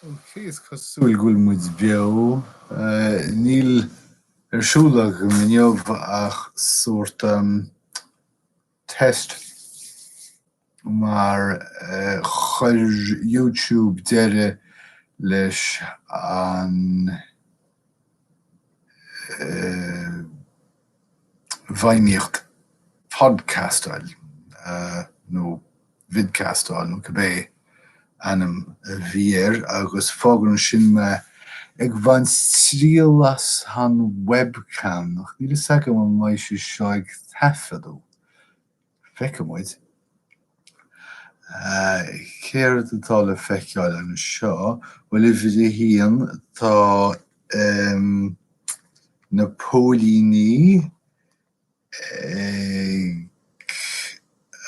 Ok, is cosúil go bhfuil muid beo. Eh, níl ar siúl agam inniu ach sórt um, test mar chuir YouTube deireadh leis an bhfeidhmíocht podcastáil nó vidcastáil nó cibé ainm a bhí air agus fágann sin mé ag bhaint triail as an webcam ach níl a fhios agam an mbeidh sé seo ag taifeadadh. feicfidh muid céard atá le feiceáil anseo. Bhuel uimhir a haon tá na póilíní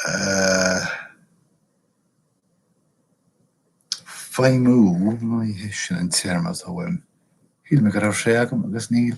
ag feidhmiú, ní hé sin an téarma atá uaim, shíl mé go raibh sé agam agus níl.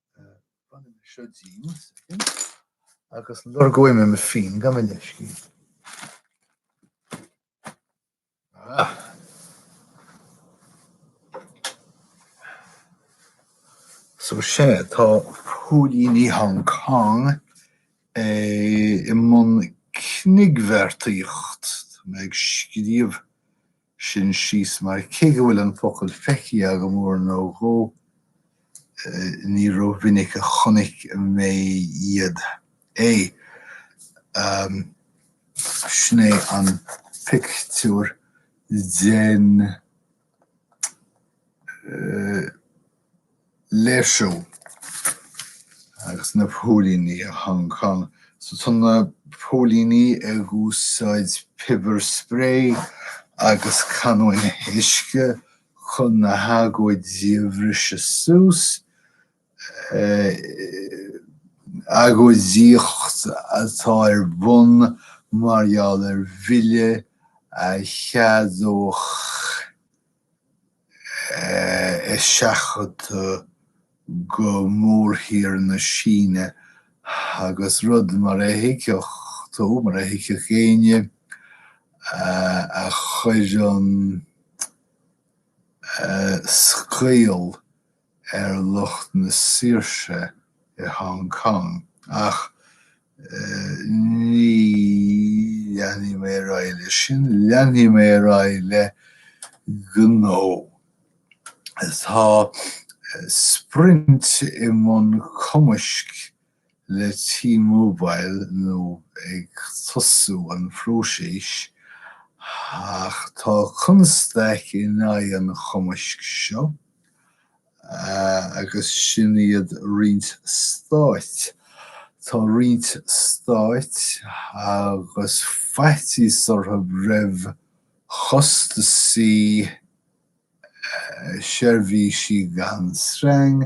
Bainfidh mé seo díom agus lorgóidh mé mo phinn. So sea, tá póilíní Hong Cong i mbun cniogbheartaíocht. Tá mé ag scríobh sin síos mar cé go bhfuil an focal feicthe agam uair nó dhó ní ró mhinic a chonaic mé iad. Sin é an pictiúr den. léirsiú agus na póilíní i Hong Cong. So tá na póilíní ag úsáid pepper spray agus canóin uisce chun na hagóidí a bhriseadh suas. Agóidíocht atá ar bun mar gheall ar bhille a cheadódh eiseachadadh go mórthír na Síne agus rud mar a thuigfeadh tú, mar a thuigfeadh éinne a chuireann scaoll ar lucht na saoirse i Hong Cong ach ní leanfaidh mé ar aghaidh leis sin, leanfaidh mé ar aghaidh le gnó. Tá Sprint i mbun cumaisc le T-Mobile nó ag tosú an phróisis ach tá constaic in aghaidh an chumaisc seo agus sin iad roinnt stáit. Tá roinnt stáit agus faitíos orthu roimh chostasaí. seirbhísí gan sreang,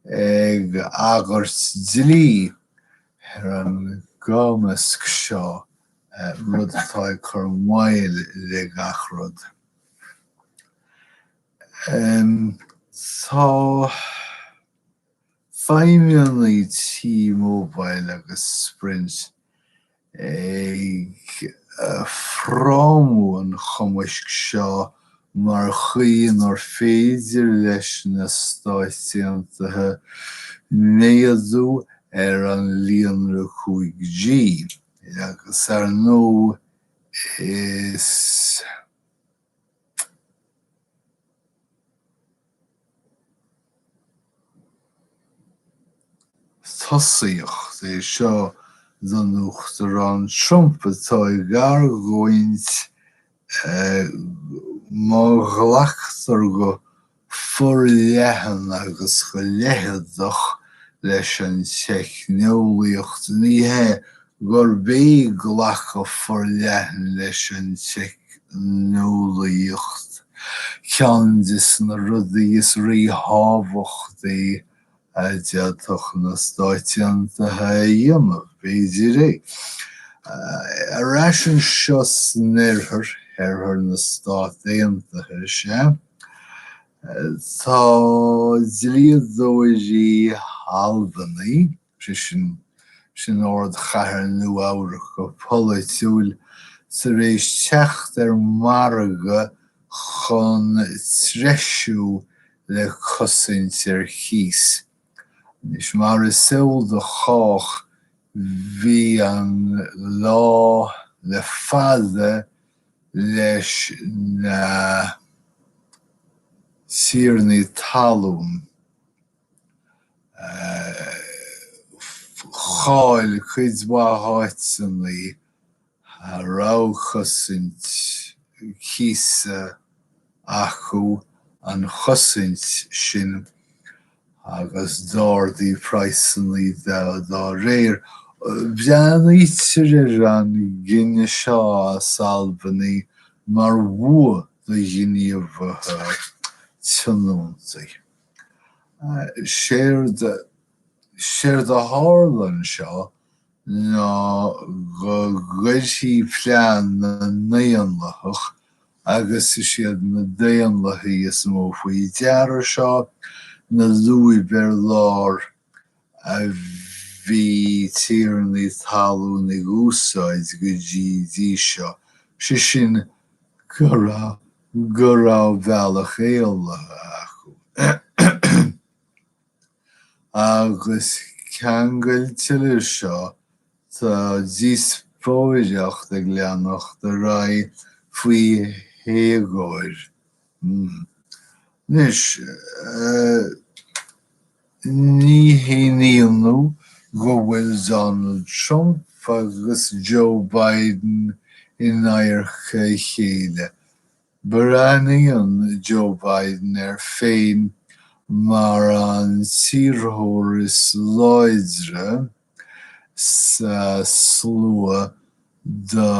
ag agairt dlí ar an gcumasc seo, rud atá ag cur moill le gach rud. Tá feidhmeannaigh T-Mobile agus Sprint ag frámú an chumaisc seo mar chaoi inar féidir leis na Stáit Aontaithe méadú ar an líonra 5G agus ar ndóigh is. Tosaíocht é seo don Uachtarán Trump atá ag argóint má ghlactar go forleathan agus go leitheadach leis an teicneolaíocht. Ní hé gurb é glacadh forleathan leis an teicneolaíocht ceann des na rudaí is rí-thábhachtaí a d'fhéadfadh na Stáit Aontaithe a dhéanamh, b'fhéidir é. Ar ais anseo san Oirthear, Oirthear na Stát Aontaithe, is ea. Tá dlíodóirí Albany, sé sin, sin ardchathair Nua-Eabhrac go polaitiúil, tar éis teacht ar mhargadh chun treisiú le cosaint ar chíos. Anois, mar is eol do chách, bhí an lá le fada leis na tiarnaí talún chaill cuid mhaith áiteanna a raibh cosaint cíosa. acu an chosaint sin agus d'ardaigh praghsanna dá réir. Breathnaítear ar an gcinneadh seo as Albany mar bhua do ghníomhaithe tionóntaí. Séard a tharla anseo ná go gcuirfidh plean na nDaonlathach Agus is iad na Daonlathaigh is mó faoi deara seo, na lúib ar lár a bhí tiarnaí talún ag úsáid go dtí seo, sé sin go raibh bealach éalaithe acu. Agus ceangailte le seo tá díospóireacht ag leanacht ar aghaidh faoi héagóir. Anois, ní haon ionadh go bhfuil Donald Trump agus Joe Biden in adharca a chéile. Breathnaíonn Joe Biden air féin mar an t-iarrthóir is láidre sa slua do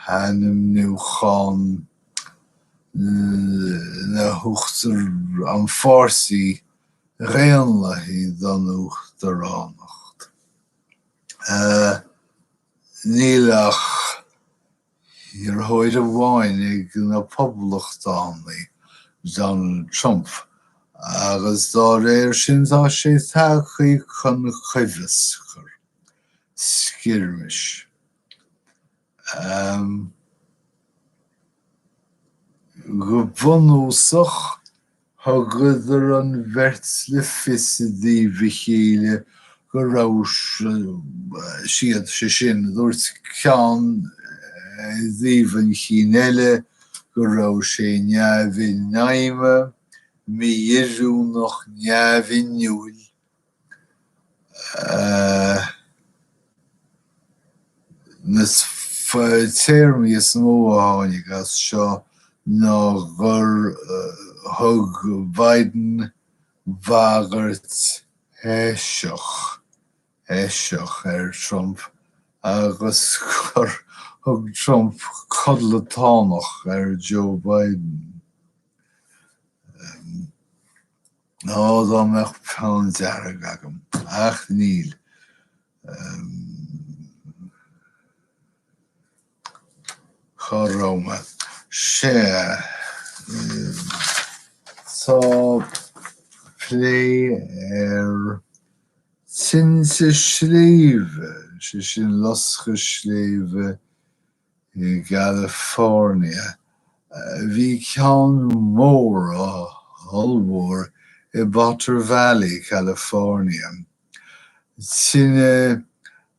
hainmniúchán le huachtar an pháirtí Dhaonlathaigh don uachtaránacht. Níl ach Iarrthóir amháin ag na Poblachtánaigh, Donald Trump, agus dá réir sin tá sé tagtha chun coimheascar, skirmish. Go bunúsach, Thugadar an bheirt le fios i dtaobh a chéile go raibh siad, sé sin, dúirt ceann i dtaobh an chinn eile go raibh sé neamh-infheidhme, mí-oiriúnach, neamh-inniúil, Na téarmaí is mó a tháinig as seo ná gur thug Biden bhagairt eiseach, eiseach, ar Trump agus gur thug Trump codlatánach ar Joe Biden. Nó dá mbeadh peann dearg agam. Ach níl. Cá raibh mé? Sea. Tá plé ar tinte sléibhe, sé sin loscadh sléibhe, I gCalifornia, bhí ceann mór ollmhór i bPotter Valley, California. Tine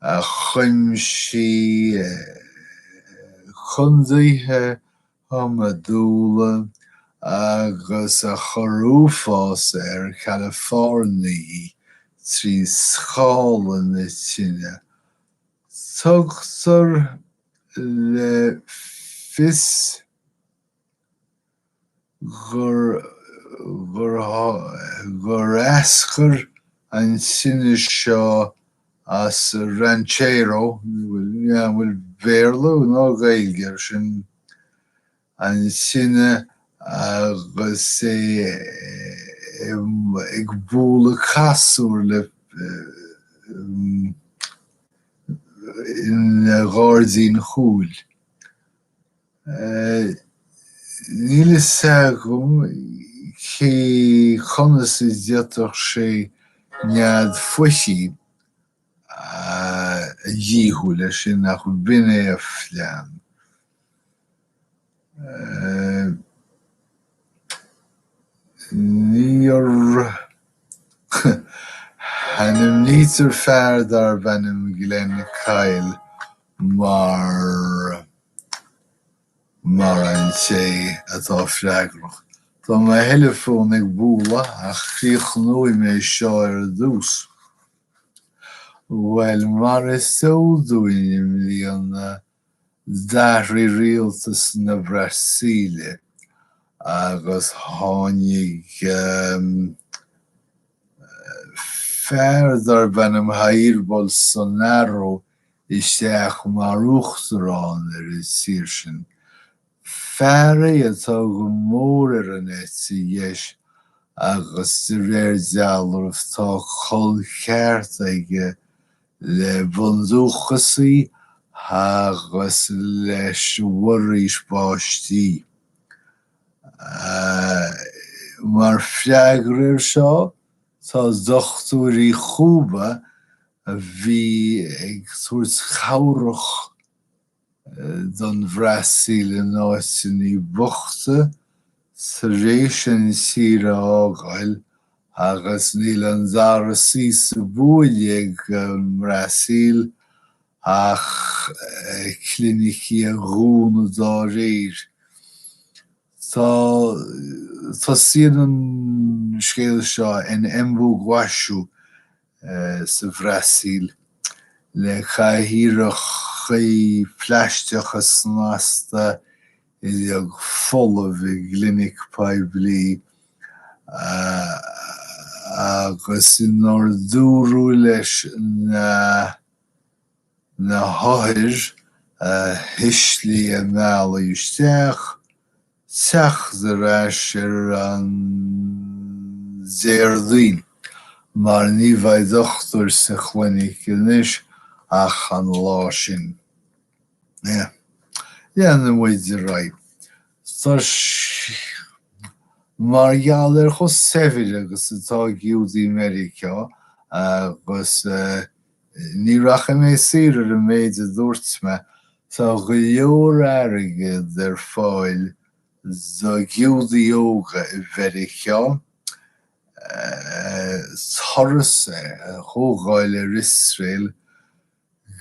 a chuimsigh condaetha iomadúla agus a chur uafás ar Chalafoirnigh trí scála na tine. Tugtar le fios gur eascair an tine seo as Ranchero, bhfuil Béarla nó Gaeilge ar sin? an tine agus é ag bualadh casúr le ina ghairdín chúil. Níl fhios agam cé conas a d'fhéadfadh sé nead foichí. a dhíothú le sin ach b'in é a phlean. Níor, ainmnítear fear darb ainm Glen Kyle mar mar an té atá freagrach. Tá mo theileafón ag bualadh ach críochnóidh mé seo ar dtús. Bhuel mar is eol dúinn i mbliana d'athraigh rialtas na Brasaíle agus tháinig fear darb ainm Jair Bolsonaro isteach mar uachtarán ar an tír sin. Fear é atá go mór ar an eite dheis agus de réir dealraimh tá col ceart aige le bundúchasaigh agus leis an bhforaois báistí. Mar freagra air seo tá dochtúirí Chúba a bhí ag tabhairt cabhrach. don Bhrasaíl in áiteanna bochta tar éis an tír a fhágáil agus níl an dara suí sa bhuaile ag an mBrasaíl ach clinicí a dhúnadh dá réir. Tá tosaíonn an scéal seo in Embu-Guaçu sa Bhrasaíl le cathaoireacha plaisteacha snasta uilig folamh i gclinic poiblí agus inar dúradh leis na. hothair a thuisligh a mbealach isteach, teacht ar ais ar an Déardaoin mar ní bheidh dochtúir sa chlinic anois ach an lá sin. Yeah. Leanfaidh muid ar aghaidh. Tá sé. Mar gheall ar chomh saibhir agus atá Giúdaigh Mheiriceá agus. Ní rachaidh mé siar ar an méid a dúirt mé. Tá go leor airgead ar fáil do Ghiúdaigh óga i Meiriceá turas a thógáil ar Iosrael,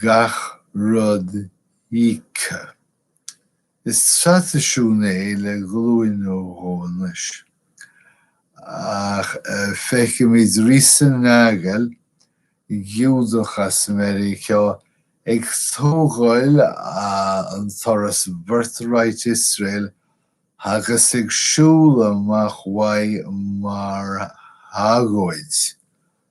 gach rud íoctha. Is traidisiún é le glúin nó dhó anois. Ach feicimid Risa Nagel, Giúdach as Meiriceá, ag tógáil an turas Birthright Iosrael agus ag siúl amach uaidh mar agóid.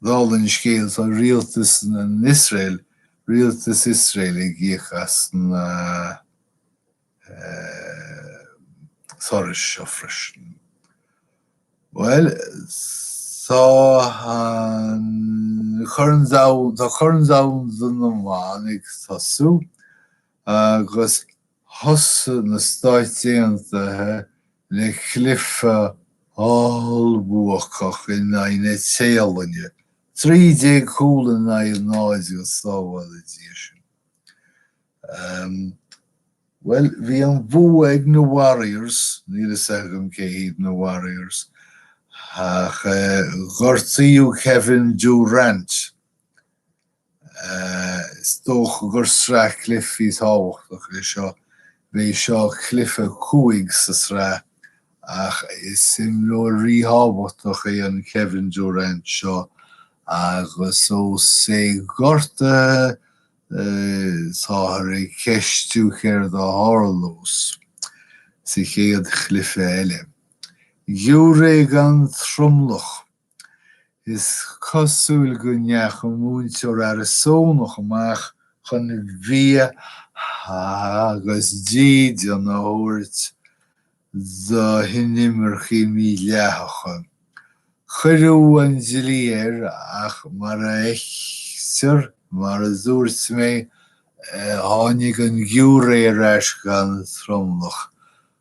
Dála an scéil, tá rialtas in Iosrael, rialtas Iosrael ag íoc as na turais seo freisin. Bhuel, tá an corn domhain, tá corn domhain na mban ag tosú. agus thosaigh na Stáit Aontaithe le cluiche ollbhuacach in aghaidh na Téalainne, trí déag cúl in aghaidh a náid go sábhála Dia sinn. Ehm, bhuel, bhí an bua ag na Warriors, níl fhios agam cé hiad na Warriors, ach eh, gortaíodh Kevin Durant, Is dócha gur sraith cluichí tábhachtach é seo. B'é seo cluiche a 5 sa sraith ach is imreoir ríthábhachtach é an Kevin Durant seo agus ós é gortaithe táthar ag ceistiú céard a tharlós sa chéad chluiche eile. Giúiré gan tromlach Is cosúil go ndeachaigh múinteoir Arizónach amach chun bia agus dídean a thabhairt do hinimircigh mídhleathacha. Cuireadh an dlí air ach mar a fheictear, mar a dúirt mé, tháinig an giúiré ar ais gan tromlach.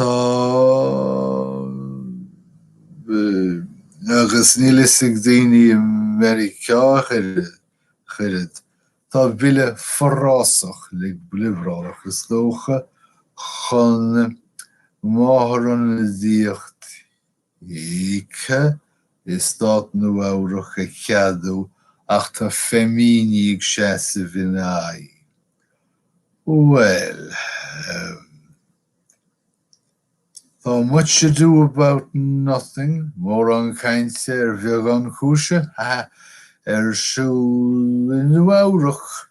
Tá agus níl fhios ag daoine i Meiriceá ach oiread. Tá bille forásach le liobrálach is dócha chun máthairionadaíocht íoctha i Stát Nua-Eabhrac a cheadú ach tá feiminigh ag seasamh ina aghaidh. Bhuel. em. tá much ado about nothing, mórán cainte ar bheagán cúise, ha ha, ar siúl i Nua-Eabhrac.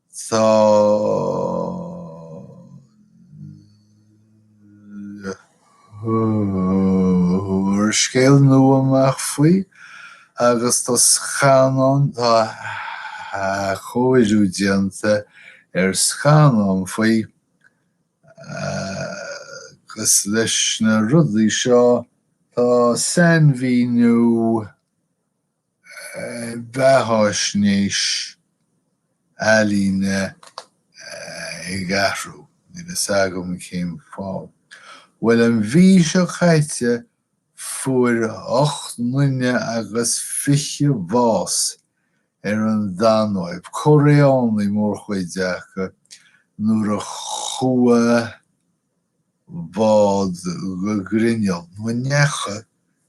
Tá úrscéal nua amach faoi agus tá scannán, tá athchóiriú déanta ar scannán faoi agus leis na rudaí seo tá sainmhíniú, bheathaisnéis ealaíne ag athrú. Níl fhios agam cén fáth. Bhuel an mhí seo caite fuair ocht nduine agus fiche bás ar an Danóib, Coréánaigh mórchuid acu, nuair a chuaigh bád go grinneall, nó an ndeachaigh,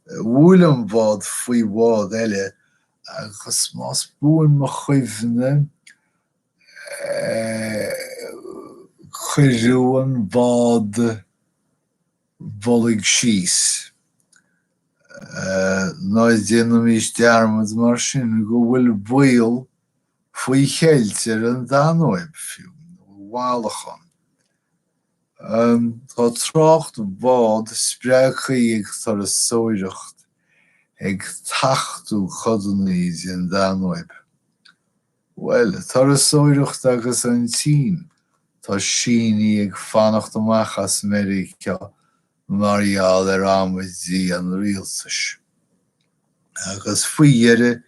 Bhuail an bád faoi bhád eile agus más buan mo chuimhne cuireadh an bád uilig síos. Ná déanaimís dearmad mar sin go bhfuil baol faoi cheilt ar an Danóib fiú, nó i bhfalachán. Tá trácht bád spreagthaí ag turasóireacht ag tachtú codannaí den Danóib. Bhuel, turasóireacht agus an tSín, tá Sínigh ag fanacht amach as Meiriceá mar gheall ar amaidí an Rialtais agus faoi dheireadh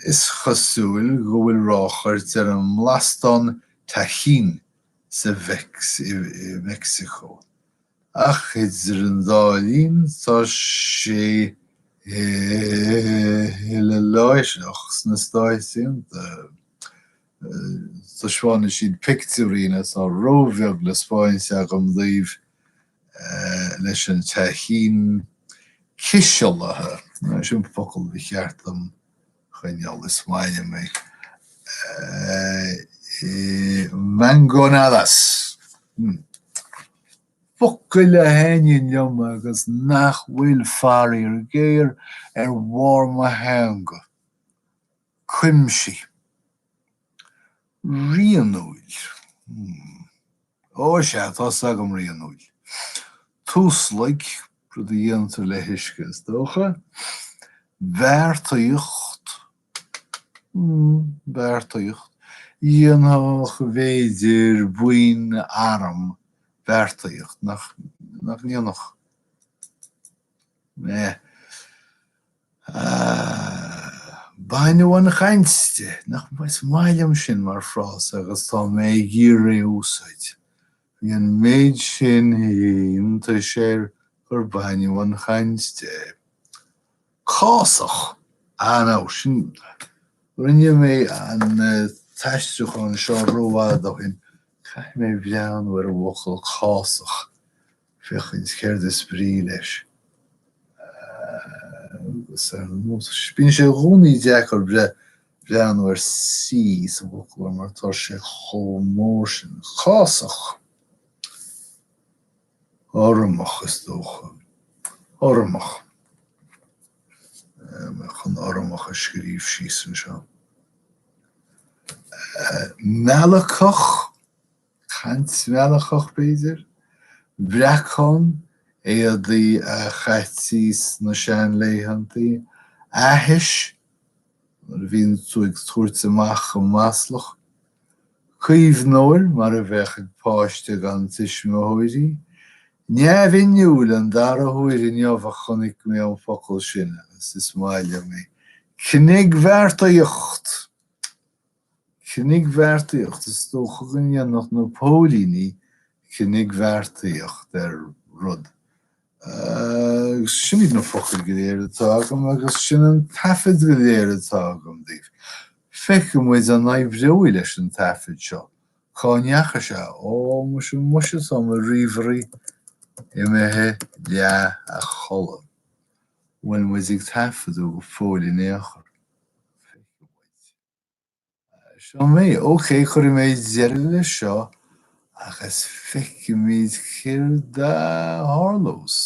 is cosúil go bhfuil ráchairt ar an mblastán Tajín sa Meicsiceo. Ach idir an dá linn tá sé uileláithreach sna Stáit Aontaithe. Taispeánann siad pictiúirín atá ró-bheag le 'speáint agam daoibh, leis an Tajín cisealaithe, sin focal ba cheart dom choinneáil, is maith liom é, i Mangonadas, hm, focail a thaitníonn liom agus nach bhfuil, faraoir géar, ar bharr mo theanga. cuimsigh, rianúil, hmm, ó is ea, tá 's agam, rianúil, tuaslaig, rud a dhéantar le huisce is dócha, beartaíocht, hmm, beartaíocht, dhéanfadh b'fhéidir buíon arm beartaíocht, nach ndéanfadh? eh. Baineadh an chaint de. Nach maith liom sin mar phrása agus tá mé ag iarraidh a úsáid. Bhí an méid sin iontais air gur baineadh an chaint de. Cásach! Ah no, sin, rinne mé an t-aistriúchán seo rófhada ó shin, caithfidh mé breathnú ar an bhfocal cásach. féachaint céard is brí leis. Agus ar ndóigh, bíonn sé i gcónaí deacair breathnú ar C sa bhfoclóir mar tá sé chomh mór sin. Cásach. Urramach, is dócha. Urramach. Mé chun urramach a scríobh síos anseo. Meallacach. Caint mheallacach, b'fhéidir? Breacán, éadaí a chaití sna seanlaethanta, aithis, nuair a bhíonn tú ag tabhairt amach go maslach, caomhnóir, mar a bheadh ag páiste gan tuismitheoirí, neamhinniúil, an dara huair inniu a chonaic mé an focal sin agus is maith liom é, cniogbheartaíocht! cniogbheartaíocht, is dócha go ndéanfadh na póilíní cniogbheartaíocht ar rud. Agus sin iad na focail go léir atá agam agus sin an taifead go léir atá agam daoibh. Feicfidh muid an n-éireoidh leis an taifead seo, cá ndeachaigh sé, ó, muise, muise tá mo ríomhairí imithe leath a chodladh, bhfuil muid ag taifeadadh go fóill in aon chor? Feicfidh muid. Seo mé. OK, cuirfidh mé deireadh le seo agus feicfimid céard a tharlós.